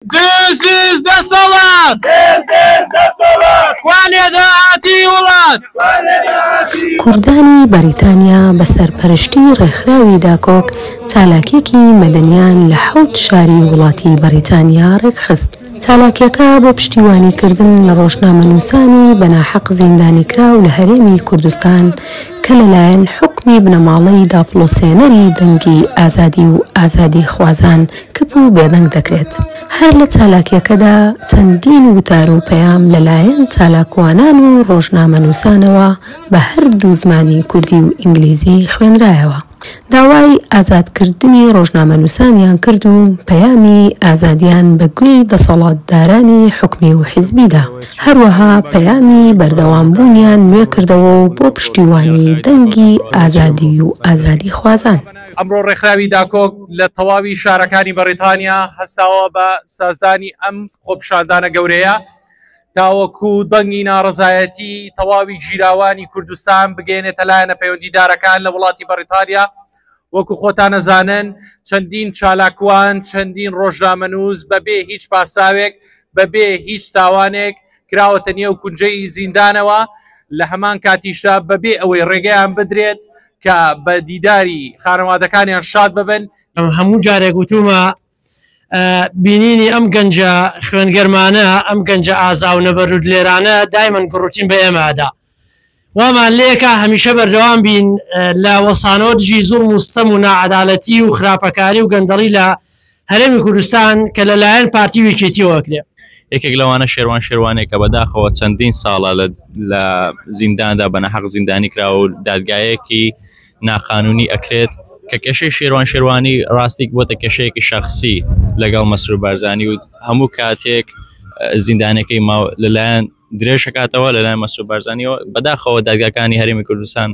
دز دز دەسەڵات دز دز دەسەڵات کوانێ داهاتی وڵات کوانێ داهاتی کوردانی بەریتانیا بە سەرپەرشتی ڕێکخراوی داکۆک چالاکیەکی مەدەنیان لە حەوت شاری وڵاتی بەریتانیا ڕێکخست. چالاکیەکە بۆ پشتیوانی کردن لە ڕۆژنامەنووسانی بە ناحەق زیندانیکراو لە هەرێمی کوردستان کە لەلایەن حوکمی بنەماڵەی داپڵۆسێنەری دەنگی ئازادی و ئازادی خوازان کپ و بێدەنگ دەکرێت. هەر لە چالاکیەکەدا چەندین وتار و پەیام لەلایەن چالاکوانان و ڕۆژنامەنووسانەوە بە هەردوو زمانی کوردی و ئینگلیزی خوێنرایەوە. داوای ئازادکردنی ڕۆژنامەنووسانیان کرد و پەیامی ئازادیان بە گوێی دەسەڵاتدارانی حکومی و حیزبی دا. هەروەها پەیامی بەردەوام بوونیان نوێ کردەوە و بۆ پشتیوانی دەنگی ئازادی و ئازادیخوازان. ئەمڕۆ ڕێکخراوی داکۆک لە تەواوی شارەکانی بەڕیتانیا هەستاوە بە سازدانی ئەم خۆپیشاندانە گەورەیە تاوەکو دەنگی ناڕزایەتی تەواوی ژیراوانی کوردستان بگەێنێتە لایەنە پەیوەندیدارەکان لە وڵاتی بەڕیتانیا وەکو خۆتانەزانن چەندین چالاکوان چەندین ڕۆژنامەنووس بەبێ هیچ پاساوێک بەبێ هیچ تاوانێک کراوەتە نێو کونجەی زیندانەوە لە هەمان کاتیشدا بەبێ ئەوەی ڕێگەیان بدرێت کە بە دیداری خانەوادەکانیان شاد ببن هەموو جارێک وتومە بینینی ئەم گەنجە خوێنگەرمانە ئەم گەنجە ئازاو نەبەرود لێرانە دایمەن گڕوتین بە ئێمەدا وامان لێکا هەمیشە بەردەوام بین لە وەستانەوە دژی زوڵم و ستەم و ناعەدالەتی و خراپەکاری و گەندەڵی لە هەرێمی کوردستان کە لەلایەن پارتی و یەکێتیەوە ئەکرێ. یەکێک لەوانە شێروان شێروانێکە بەداخەوە چەندین ساڵە لە زینداندا بە نەحەق زیندانی کراوە و دادگایەکی ناقانونی ئەکرێت کە کێشەی شێروان شێروانی ڕاستیک بۆتە کێشەیەکی شخصی لەگەڵ مەسرور بارزانانی و هەموو کاتێک زیندانەکەی ماو لەلایەن درێژکاتەوە لەلای مەسرور بارزانانیەوە بەداخەوە دادگاکانی هەرمی کوردستان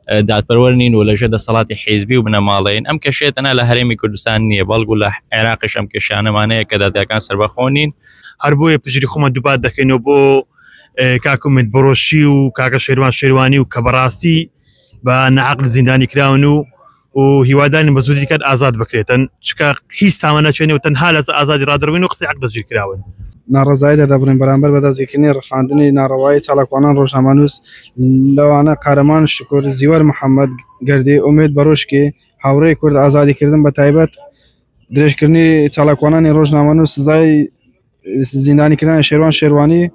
دادپەروەر نین و لەژێ دەسەڵاتی حیزبی و بنەماڵین ئەم کەشێتەنا لە هەرێمی کوردستان نییە بەڵکو لە عێراقش ئەم کێشانەمانەیە کە دادگاکان سربەخۆنین هەر بۆیە پژری خۆمە دووبات دەکەینەوە بۆ کاکومت بڕۆشی و کاکە شێروان شێوانی و کە بەڕاستی بە نەعقل زیندانی کراون و و هیوادارین بە زودی کات ئازاد بکرێتن چکە هیچ تاوە نەچێنێ و تەنها لە ئازادی ڕادربین و قسەی عقد دەزیر کراون ناڕزای دەدەبرین بەرامبەر بەدەستگیرکردنی ڕفاندنی ناڕەوایی چالاکوانان ڕۆژنامەنووس لەوانە قارەمان شکر زیوەر محەممەد گردی ئومێد بەرۆشکی هاوڕێی کورد ئازادیکردن بە تایبەت درێژکردنی چالاکوانانی ڕۆژنامەن و سزای زیندانی کرانی شێروان شێروانی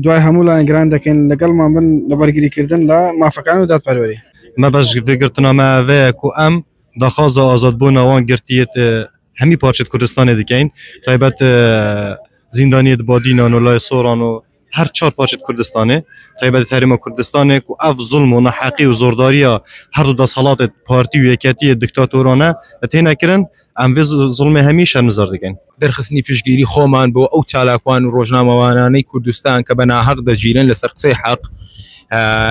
دوای هەموو لایەنگران دەکەین لەگەڵمان بن لە بەرگریکردن لە مافەکان و دادپەروەری مەبەش گرتنامەوەەیە و ئەم داخوازە ئازاد بۆ ناوان گرتیت هەمی پارچت کوردستانی دکەین تایبەت زیندانیت بادینان و لای سۆران و هەر چوار پارچەی کوردستانێ تایبەتە هەرێمە کوردستانێ کو ئەف زوڵم و ناحەقی و زۆرداریا هەر دوو دەسهەڵاتێ پارتی و یەکێتیێ دکتاتۆرانە تێنە کرن ئەم ڤێ زوڵمێ هەمی شەرمزار دکەین. دەرخستنی پشتگیری خۆمان بۆ ئەو چالاکوان و ڕۆژنامەوانانەی کوردستان کە بە ناهەق دەگیرێن لەسەر قسەی حەق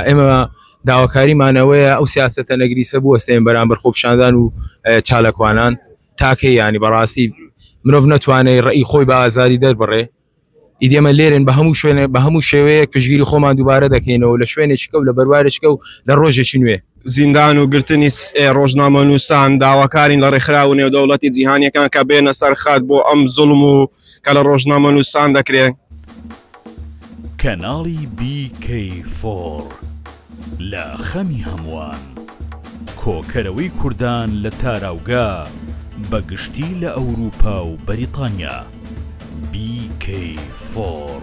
ئێمە داواکاریمانەوەیە ئەو سیاستە نەگریسە بوەستێن بەرامبەر خۆپشاندان و چالاکوانان تاکەی ینی بەڕاستی مرۆڤ نەتوانێت ڕێی خۆی بە ئازاری دەربڕێ ئیدی ئێمە لێرەین بە هەموو شوێنێ بە هەموو شێوەیەک پشگیری خۆمان دووبارە دەکەینەوە لە شوێنێکی کەو لە بەروارێکی کەو لە ڕۆژێکی نوێ. زیندان و گرتنی ڕۆژنامەنووسان داواکارین لە ڕێکخراوە نێودەوڵەتی جیهانییەکان کە بێنە سەر خەت بۆ ئەم زوڵم و کە لە ڕۆژنامەنووسان دەکرێ. کەناڵی BK4. لە خەمی هەمووان کۆکەرەوەی کوردان لە تاراوگە بە گشتی لە ئەوروپا و بەریتانیا، BK4.